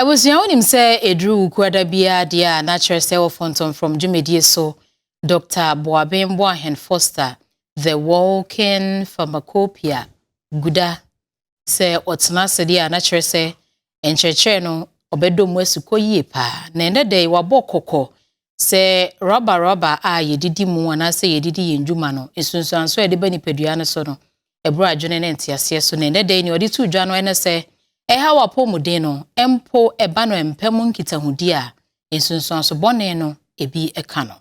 Abusua, wonim sɛ ɛduru Wukuada biara deɛ a na kyerɛ sɛ wɔ Fɔntɔmfrɔm dwumadie so, Dɔkta Boaben Boahen Foster, the walking pharmacopoeia, guda. Sɛ ɔtena ase deɛ a na kyerɛ sɛ nkyerɛkyerɛ no ɔbɛdɔ mu asukɔ yie paa. Na ɛnɛ da yi wabɔ kɔkɔ sɛ rɔba rɔba a yɛdidi mu anaasɛ yɛdidi yɛn dwuma no, nsunsuansoɔ a ɛde ba nipadua no so no, ɛboro adwene ne nteaseɛ so, na ɛnnɛ da yi nea ɔde to dwa no ne sɛ ɛhaw apɔwmuden no mpo ɛba no mpa mu nkitahodi a nsunsuanso bɔne no ebi ka no.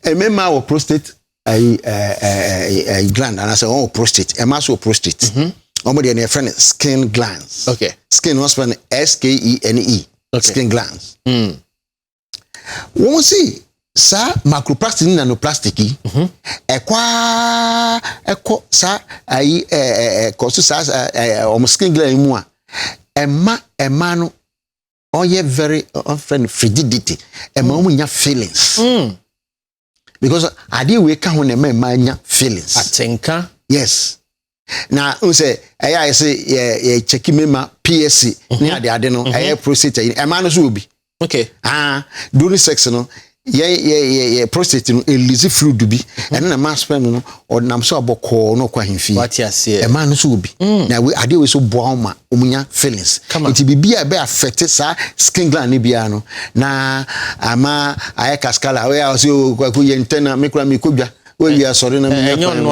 Mmarima wɔ prostate ayi ɛɛ gland anaasɛ wɔn wɔ prostate ɛmaa so wɔ prostate mhm. wɔn deɛ no yɛfrɛ no skin glands okay. skin wɔn spɛ no s k e n e okay. skin glands mm. wɔn si saa macroplastic ne nanoplastic yi mhm. ɛkɔ aa ɛkɔ saa ayi ɛɛ ɛɛ kɔ so saa ɛɛ wɔn skin gland mu a ɛma ɛma no ɔyɛ very ɔfɛ no frigidity ɛma wɔn nya feelings. Mm. because adeɛ wei ka ho na ɛma mmaa nya feelings. atenka. yes na n sɛ ɛyɛ ayɛ sɛ yɛ yɛ kyɛki mmarima psc mhm. ne ade ade no mhm. ɛyɛ prostate ɛyɛ ɛmaa no so wɔ bi. okay. ah during sex no yɛ yɛ yɛ yɛ prostate no elisi fluid bi mhm. ɛno na ɛma sperm no ɔnam so a bɔkɔɔ na ɔkɔ ahemfie wate aseɛ ɛmaa no so obi mm. na adeɛ wei so boa ma wɔn nya feelings nti biribi a ɛbɛ afɛte saa skin gland ne biara no na ama ayɛ kaskala ɔyɛ a ɔsɛ o kwaku yɛ ntɛ na mekura mi kɔ dwa wɔawie asɔre na menya kwan mu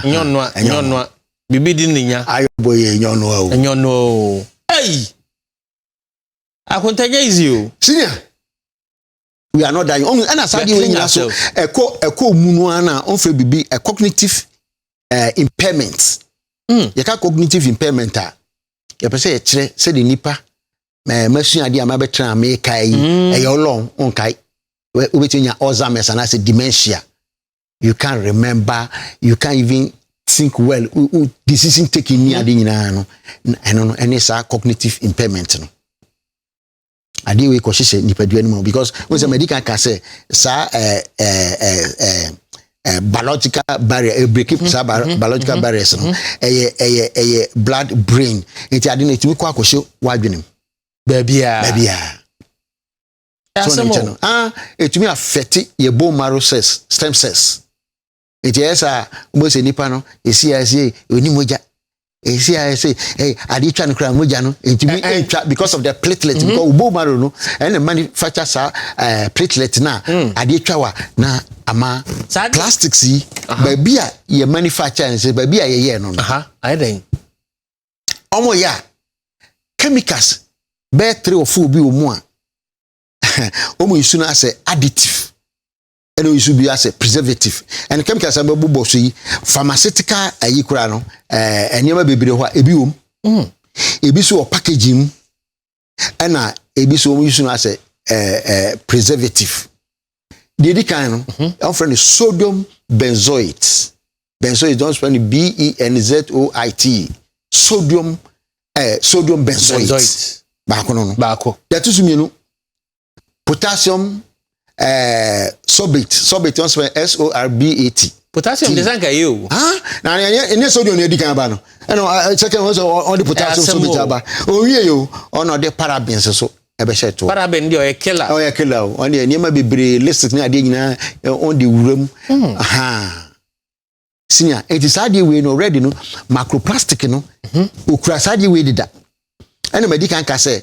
nyɔnoa nyɔnoa biribi di ne nya ayɔ bɔ yɛ nyɔnoa o nyɔnoa o ɛyi akontanya izi o senior we are not dying ɔmu ɛna saa deɛ wɔn nyinaa so ɛkɔ ɛkɔ mu no ara na wɔn fɛ bibi ɛ cognitive uh, impairment mm. yɛka cognitive impairment a yɛpɛ sɛ yɛkyerɛ sɛdeɛ nipa ɛɛ masua adeɛ a mabɛtena meka yi mm. ɛyɛ ɔlɔn nkae wobɛtumi nya alzheimer's anaasɛ dementia you can't remember you can't even think well u u decision taking ni ade nyinaa no ɛno no ɛne saa cognitive impairment no adeɛ wei kɔ hyehyɛ nipadua no mu because n sɛ madi kan ka sɛ saa ɛɛ ɛɛ ɛɛ ɛɛ biological barrier ɛbreki mm-hmm. saa mm-hmm. biological mm-hmm. barriers no ɛyɛ ɛyɛ ɛyɛ blood brain nti ade no etumi kɔ akɔhyɛ wadwene mu baabiara baabiara so ne nkyɛn no ah etumi afɛte yɛ bone marrow cells stem cells. Enti ɛyɛ saa a, wobɛhu sɛ nipa no ɛsi a ɛsɛ ɔni mogya ɛsi a ɛsɛ adeɛ twa no koraa mogya no ɛntumi ɛntwa because of the platelet mm-hmm. because wobɔ maro no ɛna manufacture saa eh, platelet no a mm. adeɛ twa wa na ama plastics yi baabi a yɛ manufacture no sɛ baabi a yɛyɛɛ no no ɔmo yɛ a chemicals bɛyɛ three or four bi wɔ mu a ɔmo nsu no asɛ additive ɛna oyi so bi asɛ preservative ɛna chemicals a bɛbobɔ so yi pharmaceutical ayi koraa no ɛɛ eh, nneɛma bebree hɔ a ebi wɔ mu hmm. ebi so wɔ package mu ɛna ebi so wɔn yi so no asɛ ɛɛ eh, ɛɛ eh, preservative deɛ edi kan no mhm. wɔn fɛ no sodium benzoate benzoate wɔn fɛ no b e n z o i t sodium ɛɛ sodium benzoate baako no no baako deɛ ɛto so mmienu potassium eh, sorbate sorbate ɔn sɛ s o r b a t. potassium de sanka yie o. na ɛnyɛ ɛnyɛ sodium na edi kan aba no ɛna eh, second one sɛ ɔde potassium sorbate aba owie yi o ɔna ɔde parabens so ɛbɛhyɛ to. parabens deɛ ɔyɛ killer. ɔyɛ killer o ɔne nneɛma bebree lipstick ne adeɛ nyinaa ɔn de wura mu. Hmm. senior eti saa adeɛ wei no red no macroplastic no mhm. okura saa adeɛ wei deda ɛna ma di kan ka sɛ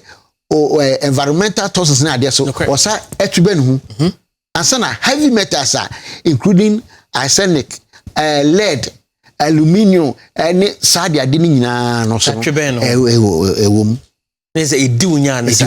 o ɛ environmental toxins ne adeɛ so ɔsa ɛtu bɛ ne ho mhm. ansa na heavy metals a including arsenic ɛɛ lead aluminium ɛne saa adeɛ ade ne nyinaa no so ɛwɔ ɛwɔ mu. ne sɛ edi wunya ne sa.